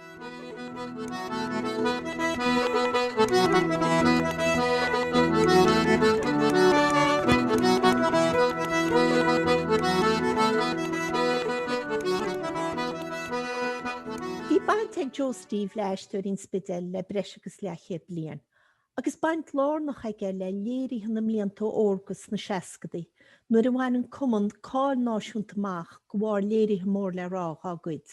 Bhí baint ag Joe Steve le Aisteoirí an Spidéil le breis agus leathchéad bliain, agus baint lárnach aige le léirithe na mblianta órga sna seascadaí, nuair a bhain an Cumann cáil náisiúnta amach de bharr léirithe mór le rá dhá gcuid.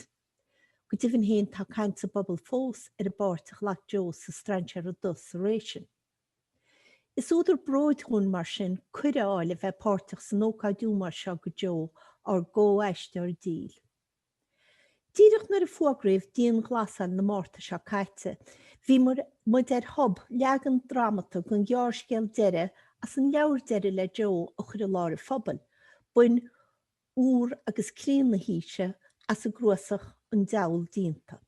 Go deimhin fhéin tá caint sa bpobal fós ar an bpáirt a ghlac Joe sa Strainséara Dubh sa ré sin. Is údar bróid dhúinn mar sin cuireadh a fháil a bheith páirteach san ócáid ómóis seo do Joe ár gcomh-aisteoir dil. Díreach nuair a fuagraíodh dianghlasáil na Márta seo caite bhí muid ar thob leagan drámata den ghearrscéal deireadh as an leabhar deireadh le Joe a chur i lár an phobail, bain úr agus críon na haoise as an gcnuasach An Diabhal Déanta.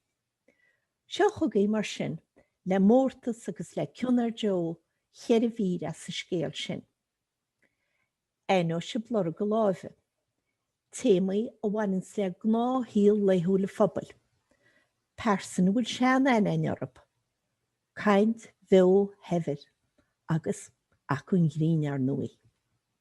Seo chugaibh, mar sin, le mórtas agus le cion ar Joe, cheithre mhír as an scéal sin. Aithneoidh sibh lorg a láimhe. Téamaí a bhaineanns le gnáthshaol laethúil an phobail. Pearsain a bhfuil sean-aithne againn orthu. Caint bheo shaibhir. Agus, acmhainn grinn, ar ndóigh.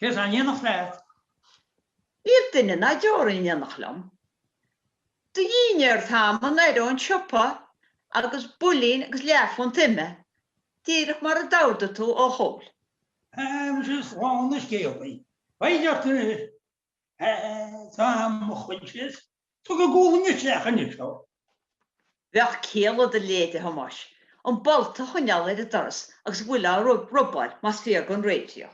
Cé atá in éineacht leat? Níl duine ná deoraí in éineacht liom. Do dhinnéar Tom anoir ón siopa agus builín agus leathphunt ime, díreach mar a d'ordaigh tú, ó Chol. Agus is slán an scéalaí. Beidh ort ar fhir. Tom, mo choinsias, tu go gualainn isteach anois, ó. Bheadh céile do leithéide a Thomáis an bolt a choinneáil ar an doras agus a bhfuil á robáil más fíor don raidió.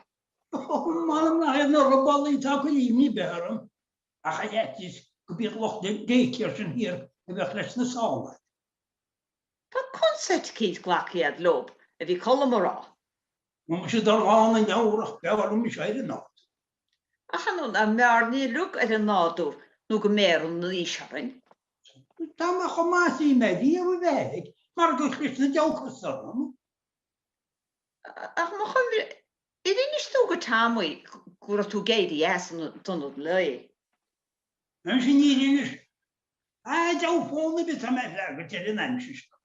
M'anam nach iad na robálaí atá ag cur imní ar bith orm, ach ar fhaitíos go b'iad lucht daycare sin thiar a bheadh leis na sála. Tá conceit eicínt glactha agat leob, a bhí Colm a rá. Bhuel, muise thabharfainn an leabhar ach b'fhearr liom mise ar an áit. Ach an ionadh an mb'fhearr ní lug ar an nádúr nó go mbeireann an aois orainn? Tá mé chomh maith is a bhí mé riamh a bheith, mar gur chlis an dá chois orm. Ach mo chuimhne, ar inis tú do Tommy go raibh tú ag éirí as an ionad lae? Ansin níor inis. A fhios fón ar bith atá mé ag freagairt ar an aimsir seo.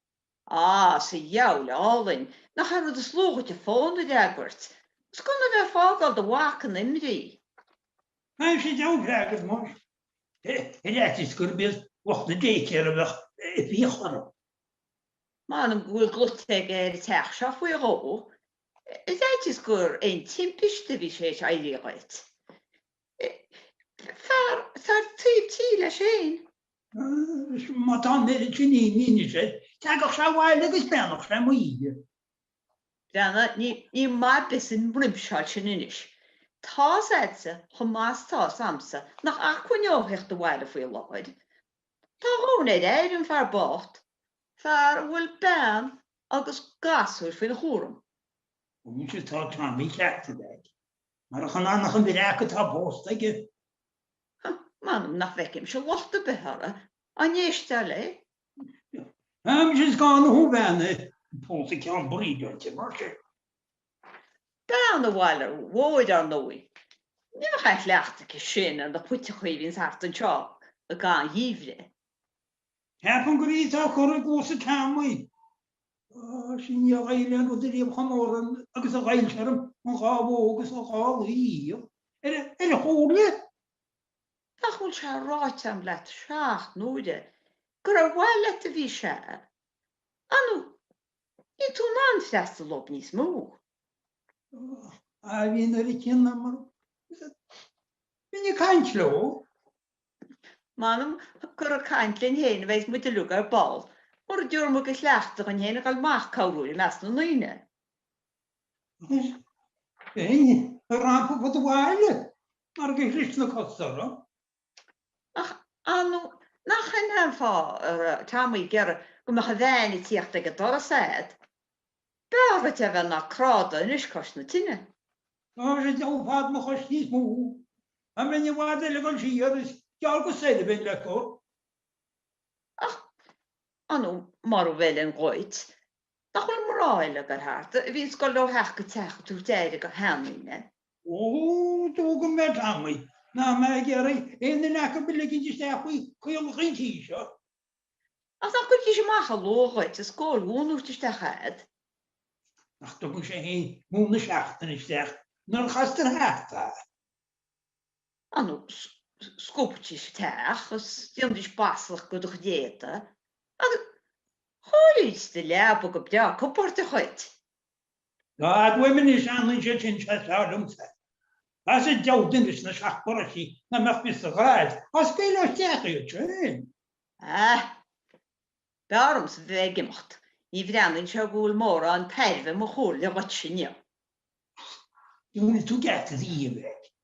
Á, sa diabhal álainn, nach é an rud is lú dhuit an fón a fhreagairt. Is gan a bheith ag fágáil do mhac in imní. Á muise diabhal freagairt muis. Ar fhaitíos gurb iad lucht na daycare a bheadh ag fiach orm. M'anam go bhfuil glaoite aige ar an teach seo faoi dhó. Is faitíos gur aon timpiste a bhí th'éis éirí dhuit. Fear atá i dtaobh tí leis féin. Is má tá an oiread sin imní air, teagadh sé abhaile agus beannadh sé m'oíche. Bheanna, níl maith ar bith san bhruimseáil sin anois. Tá's a'dsa chomh maith 's tá's a'msa nach acmhainn dó a theacht abhaile faoi láthair. Tá a dhóthain ar a aire, an fear bocht, fear a bhfuil bean agus gasúir faoina chúram. Ó ní hé atá Tommy Cheartaigh ag, mar a chan ann ach an bhitseach atá pósta aige. Ha, m'anam nach bhfeicimse locht ar bith uirthi dá n-éistfeá léi. Táimse is gá na huaimheanna pósta ceann buirídh dúirt sé, mar sin. Bean an bhaile mhóir ar ndóigh. Ní bheadh aon chleachtadh aici sin ar na puiteachaí a bhíonn thart anseo i gcaitheamh an gheimhridh. Ceapaim gurb í atá ag cur i gcluasa Tommy. Tá sí i ndiaidh aghaidh le rud ariamh chun óra agus a dhíol sé orm an dhá bhó agus an dhá lao. Ar a shúile? Nach bhfuil sé ráite agam leat seacht n-uaire gur ar mhaithe leat a bhí sé? An Níl tú in ann freastal dóibh níos mó. Aoibhinn nuair a chinneamar bheinn ag caint leo. M'anam gur ag caint linn fhéin a bheas muid uilig ar ball, mura dtabharfaidh muid go chleachtadh dhúinn fhéin a dhul amach ag cabhrú i measc na ndaoine. Bheinn ag rampáil ar fud an bhaile marach gur shroich na cosa orm. Ach annamh nach samhlófá ar feadh tamaill gearra go mbeadh a bhean ag tíocht ag an doras fhad b'fhearr dhuit é a bheith ná cráite anois cois na tine. Mar sin de thógfad mo chois níos mó, an bheinn i bhfad eile ag dul siar, is gearr go soir a bheinn le cur. Ach ar ndóigh mara bhfeileann dhuit, nach bhfuil mná eile ag dul thart, a bhíonns ag dul ó theach go teach ag tabhairt aire go sheandaoine. D'fhógair mé ar Tommy nach mé ag iarraidh aon duine acu a ligint isteach faoi chaolach an tí seo. Ach nach gcuirfidís amach an luaith dhuit is gabháil mhóna a thabhairt isteach a'd. Nach dtugann sé fhéin móin na seachtaine isteach nuair a chastar thart é Ar ndóigh, scuabfaidís an teach is nífidís baslach go do chuid éadaigh agus chóireoidís do leaba go breá compóirteach dhuit. Dá fhad uaim anois a fhanann siad sin sé is fearr liomsa. Tá's a'd deabhal duine sna seacht bparóistí nach mbeadh fios a ghraithe as Gaeilge ach d'fhéach iad sin. Ah! B'fhearr liomsa bheith ag imeacht. Ní bhreathnaíonn sé go bhfuil mórán tairbhe i mo chomhairle dhuit inniu. Ach dúirt tú geata riamh é.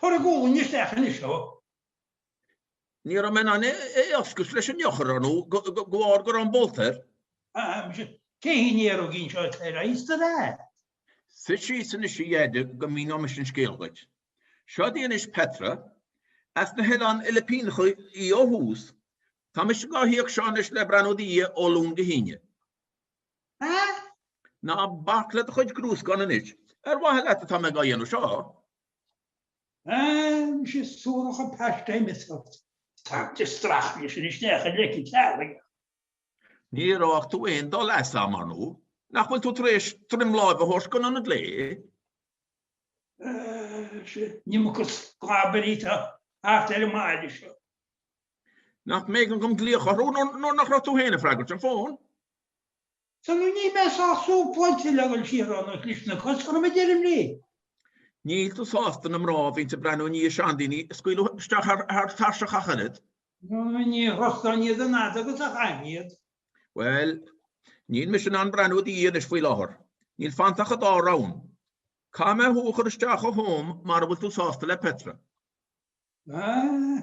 Tabhair a ghualainn isteach anois dó. Ní raibh mé in ann é a oscailt leis an eochair ar ndó de bharr go raibh an bolt air. Á, muise, cé hí an néarógín seo atá ar aos do mhear? Suigh síos anois a dheaide go míneoidh mise an scéal dhuit. Seod í anois Petra. As na hOileáin Fhilipíneacha í ó thús. Tá mise dhá híoc sin anois le breathnú i do dhiaidh ó Luan go hAoine. Hah? Ná bac le do chuid grúscáin anois. Ar mhaithe leat atá mé á dhéanamh seo? Hah? Nach suarach an paiste imeascach. Tá an ghloine stróicthe leis an isteach i leic an teallaigh. Ní raibh aon dul as am, ar ndóigh. Nach bhfuil tú tar éis droim láimhe a thabhairt don ionad lae? Hah? Ní mó go sclabairí atá thart ar an mbaile seo. Nach mb'éigean dom glaoch orthu nuair nach raibh tú féin ag freagairt an fón? Sea, no níl mé sách súchaite le dhul siar ann os lios na gcos, chun a bheith deirim léi. Níl tú sásta na mná a bhíonn ag breathnú i ndiaidh seandaoine a scaoileadh isteach thar tairseach ach oiread? No ní thrustáinn iad an fhad agus a chaithfinn iad. Bhuel, níl mise in ann breathnú i do dhiaidh anois faoi láthair. Níl fanta ach an dá roghain. Caithfidh mé thú a chur isteach i Home mara bhfuil tú sásta le Petra. Sea.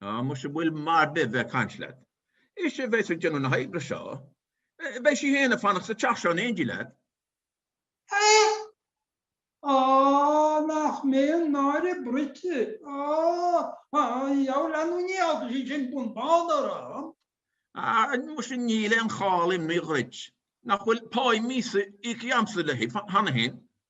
Ah muis an bhfuil maith a bheith a' caint leat? Is í a bheas ag déanamh na hoibre seo. Beidh sí fhéin a' fanacht sa teach seo in éindí leat. Aodh! Á, nach mé an díol trua! Á, á, á, lanúiní agus í sin bun bán orm! Ah muis níl aon chall imní dhuit. Nach bhfuil páí míosa íoctha agamsa léi cheana fhéin.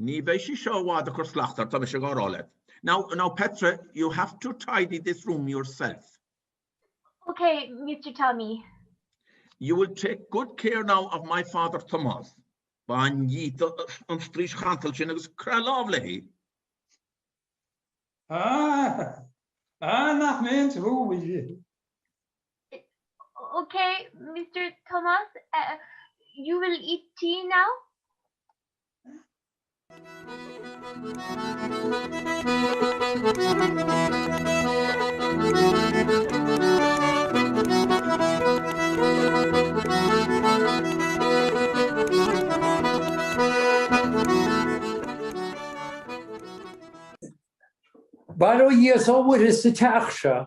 Ní bheidh sí seo i bhfad a' cur slacht ort, tá mise ag rá leat. Now, now Petra, you have to tidy this room yourself. OK, Mister Tommy. You will take good care now of my father Tomás. Bain díot an straois chantalach sin agus craith lámh léi. Ahh, ahh, nach mbeinn sa bhuaidh. OK, Mr. Tomás, you will eat tea now? Bail ó Dhia is ó Mhuire sa teach seo.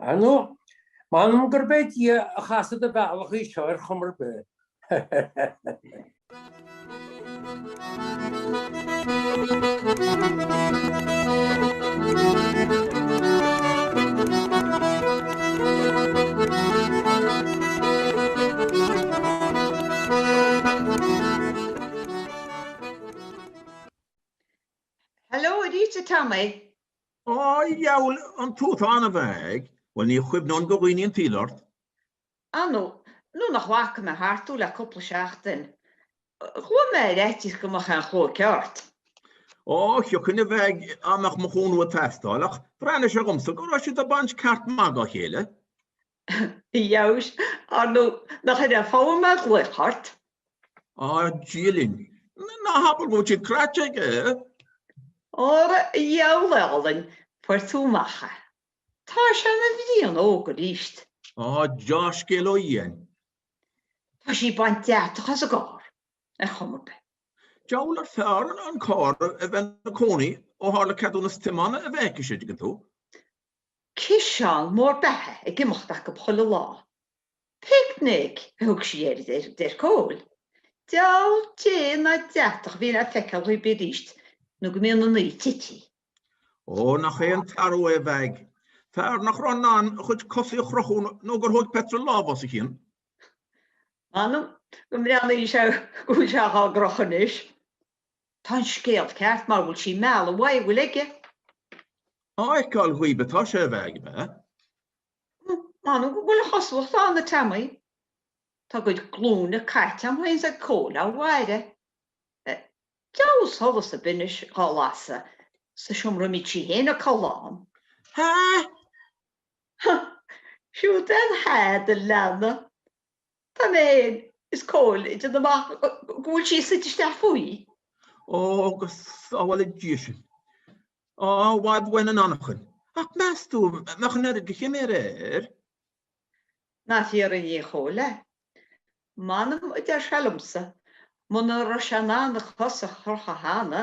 Ar nó, m'anam gurb é Dia a chas i do bhealach í seo ar chuma ar bith. Hello, Rita Tammy. Á, dheabhail an tú atá ann a Mheaig, bhuel ní chuimhneoinn go dhaoine an tsaoil ort. Ar nó, nuair nach bhfaca mé thart thú le cúpla seachtain, chuaigh mé ar fhaitíos go mbeadh aon chlóic ort. Á, thiocfainn, a Mheaig, dá mbeadh mo chúnamh ag teastáil, ach bhreathnaigh sé dhomsa go raibh siad ag baint ceart maith dá chéile. Fheabhais! Ar nó nach ar a fogha mé ghlaoch ort? Á, Dia linn! Ná habair go bhfuil siad cráite aige, eh? Óra a dheabhail álainn, fuair tú amach é. Tá sé ina bhliain óg arís. Á, dea-scéal ó Dhia 'ainn! Tá sí baint deatach as an gcarr, ar chuma ar bith. Diabhal arbh fhearr an carr a bheith ina chónaí ó tharla ceadúnas tiomána a bheith aici siúd, an dtuigeann tú. Ciseán mór beatha ag imeacht acub chuile lá. Picnic a thug sí air, a deir Cóil. Deabhal dé ná deatach a bhíonn le feiceáil dhíob aríst nó go mbíonn an oíche tití. Ó, nach é an t-athrú é a Mheaig. Fear nach raibh in ann a chuid cosaí a chrochadh nó gur thóig Petra lámh as a chionn. M'anam go mbreathnaíonn sé go bhfuil sé á gcrochadh anois. Tá an scéal ceart, mara bhfuil sí ag mealladh uaidh a bhfuil aige. Á fheiceáil dhaoib atá sé, a Mheaig, ab ea? M'anam go bhfuil a chosúlacht ann, a Teamaí. Tá a gcuid glúine caite a'm fhéin 's ag Cóil ag faire. Deabhal solas a bhíonns dhá lasadh sa seomra a mbíodh sí fhéin a' codladh ann. Há! Há! Siúd é an há do leanna. Tá mé fhéin is Cóil ag déanamh amach, go bhfuil sí suite isteach faoi. Ó, go sábhála Dia sinn. I bhfad uainn an anachain. Ach meas tú an mbeadh an oiread de chiméar air? Nár fhiafraigh mé de Chóil é. M'anam, a deir sé liomsa, muna raibh sé in ann a cos a chrochadh cheana.